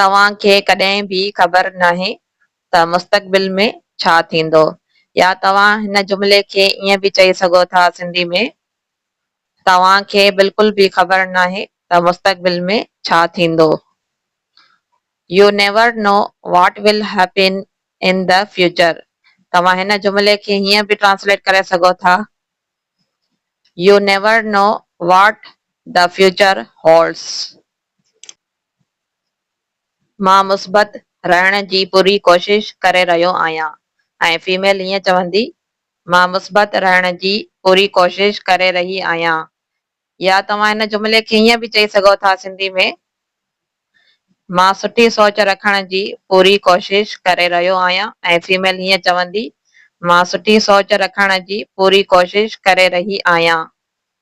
توهان کي ڪڏهن به خبر ناهي ته مستقبل ۾ ڇا ٿيندو. يا توهان هن جملي کي ائين به چئي سگهو ٿا سنڌي ۾ توهان کي بلڪل به خبر ناهي ته مستقبل ۾ ڇا ٿيندو You never know what will happen in the future توهان هن جملي کي هيئن به ٽرانسليٽ ڪري سگهو ٿا You never know what the future holds مان مثبت رهڻ جي پوري ڪوشش ڪري رهيو آهيان ۽ فيميل ائين چوندي، مان مثبت رهڻ جي پوري ڪوشش ڪري رهي آهيان يا توهان هن جملي کي ائين به چئي سگهو ٿا سنڌي ۾ مان سٺي سوچ رکڻ جي پوري ڪوشش ڪري رهيو آهيان ۽ فيميل ائين چوندي، مان سٺي سوچ رکڻ جي پوري ڪوشش ڪري رهي آهيان.